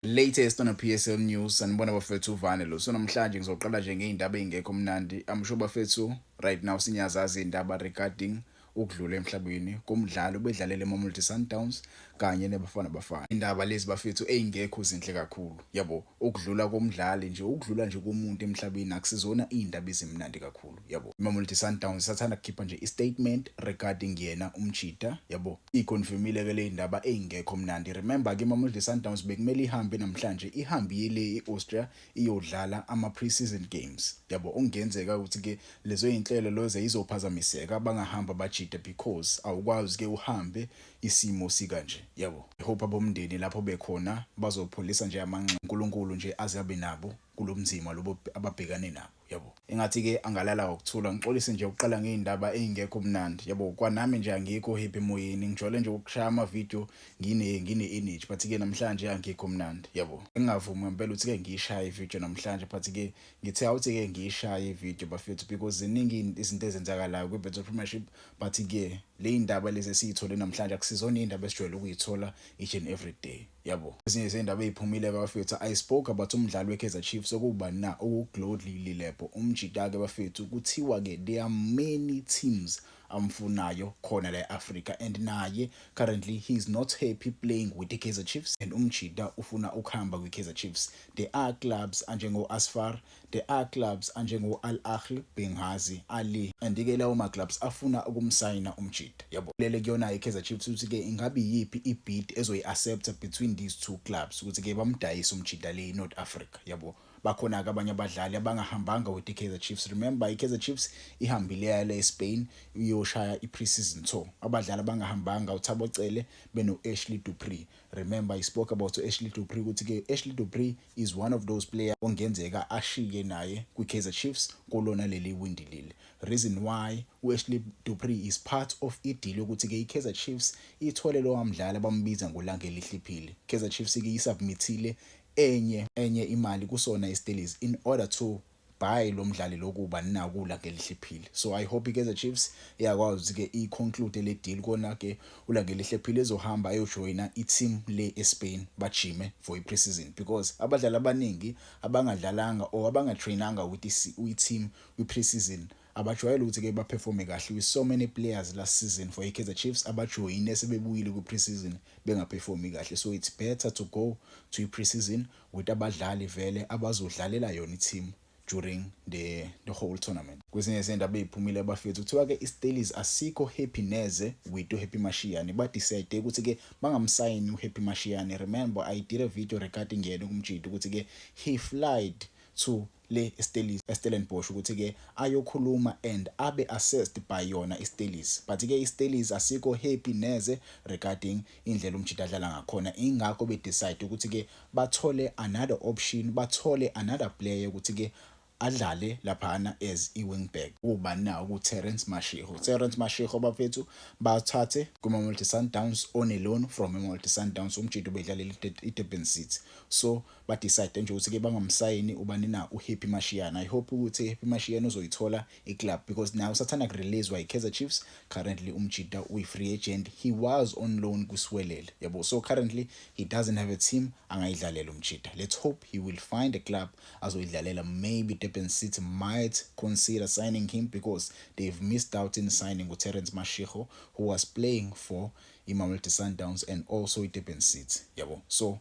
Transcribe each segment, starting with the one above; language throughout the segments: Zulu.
Latest on a PSL news sanibona bafethu uvane lo so namhlanje ngizoqala nje ngeindaba ezingekho mnandi I'm sure bafethu right now sinyazazi indaba regarding ukudlula emhlabeni komdlali ubedlalele eMamelodi Sundowns kanye neBafana Bafana indaba lezi bafethu ezingekho zinhle kakhulu yabo ukudlula komdlali nje ukudlula nje komuntu emhlabeni akusizona indaba ezimnandi kakhulu yabo imamelodi sundowns sathanda kukhipha nje i-statement regarding yena umjita yabo iyiconfirmile ke le ndaba eyingekho mnandi remember ke imamelodi sundowns bekumele ihambe namhlanje ihambile i-austria iyodlala ama-pre-season games yabo okungenzeka ukuthi ke lezo yinhlelo loze izophazamiseka bangahamba bajita because awukwazi ke uhambe isimo sikanje yabo ihope abomndeni lapho bekhona bazopholisa nje amanxeba unkulunkulu nje aze abe nabo kulo mzima lobo ababhekane nabo yabo engathi ke angalala ngokuthula ngixolise nje ukuqala ngeindaba ezingekho kumnandi yabo kwanami nje angikho happy moyeni ngijole nje ukushaya ama video ngine ngine energy but ke namhlanje angikho kumnandi yabo ngingavumi ngempela uthi ke ngiyishaya i video namhlanje but ke ngithe awuthi ke ngiyishaya i video bafethu because ziningi izinto ezenzakalayo kwi Betso Premiership but ke le indaba lezi esiyithole namhlanje akusizona indaba esijwayele ukuyithola each and every day yabo ezinye zey'ndaba ey'phumile bafethu i spoke about umdlali we-kaizer chiefs okubani na okuglodly lilebo umjita-ke bafethu kuthiwa-ke there are many teams amfunayo khona la e-afrika and naye currently he is not happy playing with the-kaizer chiefs and umjita ufuna ukuhamba kwi-kaizer chiefs there are clubs anjengo-asfar The a clubs anjengo Al Ahly, Benghazi, Ali and ke lawo ma clubs afuna ukumsayina uMjita. Yabo lele kuyona iKaizer Chiefs ukuthi ke ingabe iyiphi ibid ezoyi accepta between these two clubs ukuthi ke bamdayise uMjita le eNorth Africa. Yabo bakhona ke abanye abadlali abangahambanga with iKaizer Chiefs. Remember iKaizer Chiefs ihambile yale eSpain iyoshaya iPre-season tour. Abadlali abangahambanga uThabo Cele beno Ashley Dupree. Remember I spoke about uAshley Dupree ukuthi ke uAshley Dupree is one of those player ongenzeka ashike naye kwi-Kaizer Chiefs kolona leli windi leli. Reason why u-Ashley Dupree is part of ideal yokuthi-ke i-Kaizer Chiefs ithole lowa mdlali abambiza ngolanga elihliphile. Kaizer Chiefs-ke isubmithile enye enye imali kusona istelezi in order to Bye lo mdlali lokuba nakula ngelihlephile. So I hope iKaizer Chiefs iyakwazi ke i conclude le deal kona ke ula ngelihlephile ezohamba ayojoina i team le eSpain bajime for i preseason because abadlali abaningi abangadlalanga or abangatrainanga with i team kwi preseason abajwayele ukuthi ke baperforme kahle with so many players last season for iKaizer Chiefs abajoyine sebebuyile kwi preseason bengaperformi kahle so it's better to go to i preseason with abadlali vele abazodlalela yona i-team during the, the whole tournament kwezinye zenda beyiphumile abafethu kuthiwa ke iStellies asikho happy neze with uHappy Mashiyane badecide ukuthi ke bangamsayini uHappy Mashiyane remember I did a video regarding yena kumjita ukuthi ke he flied to le iStellies eStellenbosch ukuthi ke ayokhuluma and abe assessed by yona iStellies but ke iStellies asikho happy neze regarding indlela uMjita adlala ngakhona ingakho be decide ukuthi ke bathole another option bathole another player ukuthi ke adlale laphana as i-wingback ubani na uku-terence mashiho terence mashiho bafethu bathathe kuma-multi sundowns oneloan from i-multi sundowns umjita ubedlalela idurban city so ba decide nje ukuthi ke bangamsayini ubani na u Happy Mashiana i hope ukuthi Happy Mashiana uzoyithola i club because now usathanda ku release by Kaizer Chiefs currently umjita uyi free agent he was on loan ku Swelele yabo so currently he doesn't have a team angayidlalela umjita let's hope he will find a club azoyidlalela maybe Durban City might consider signing him because they've missed out in signing with Terence Mashiho who was playing for i Mamelodi Sundowns and also i Durban City yabo so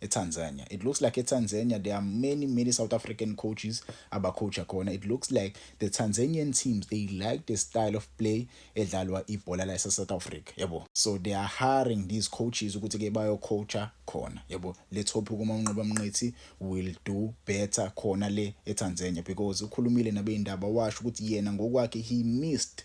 eTanzania. It looks like eTanzania there are many many South African coaches abacoacha khona. It looks like the Tanzanian teams they like the style of play edlalwa ibhola la South Africa, yabo. So they are hiring these coaches ukuthi ke bayocoacha khona, yabo. Let's hope uma unqoba mnqithi will do better khona le eTanzania because ukhulumile nabeindaba washo ukuthi yena ngokwakhe he missed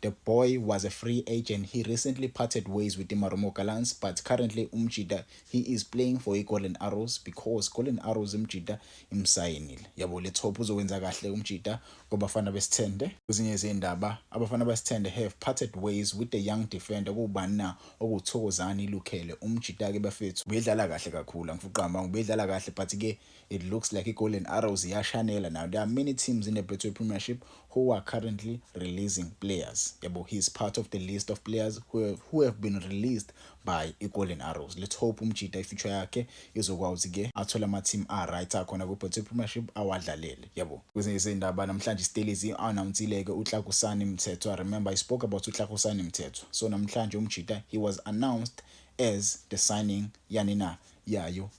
The boy was a free agent, he recently parted ways with iMarumo Gallants but currently uMjita he is playing for iGolden Arrows because Golden Arrows iMjita imsayinile. Yabo let's hope uzokwenza kahle uMjita kwabafana besithende. Kwezinye izindaba abafana basithende have parted ways with the young defender kubani na okuwuThokozani Lukhele. UMjita ke bafethu ubedlala kahle kakhulu angifuqama ubedlala kahle but ke It looks like iGolden Arrows iyashanela now. There are many teams in the Betway Premiership who are currently releasing players. Yabo, he's part of the list of players who have, who have been released by iGolden Arrows. Let's hope umjita ifuture yakhe izokwazi ke athole ama team a right akhona ku Betway Premiership awadlalele. Yabo. Kwezinye izindaba namhlanje iStellies announceile ke uTlakusani Mthethwa. I remember I spoke about uTlakusani Mthethwa. So namhlanje umjita he was announced as the signing yanina yayo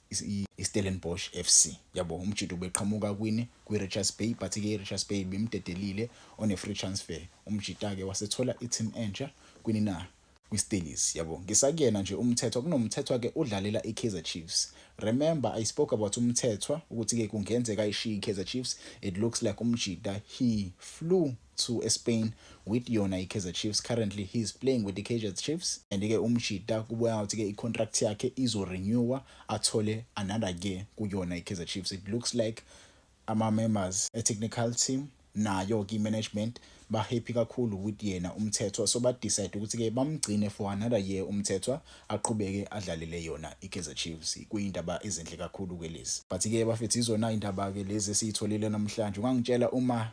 iStellenbosch FC yabo umjito ubeqhamuka kwini kwiRichards Bay but ke iRichards Bay bimdedelile on a free transfer umjita ke wasethola iteam entsha kwini na kwiStellies yabo ngisakuyena nje umthethwa kunomthethwa ke udlalela iKaizer Chiefs remember i spoke about umthethwa ukuthi ke kungenzeka ishiye iKaizer Chiefs it looks like umjita he flew to eSpain with yona iKaizer Chiefs currently he is playing with the iKaizer Chiefs and ke umjita kubuya ngathi ke icontract yakhe izo renewer athole another year kuyona iKaizer Chiefs it looks like ama members a technical team nayo ke management ba happy kakhulu with yena umthethwa so ba decide ukuthi ke bamgcine for another year umthethwa aqhubeke adlalele yona iKaizer Chiefs kuyindaba ezinhle kakhulu ke lezi but ke bafethu izona indaba ke lezi esiyitholile namhlanje ungangitshela uma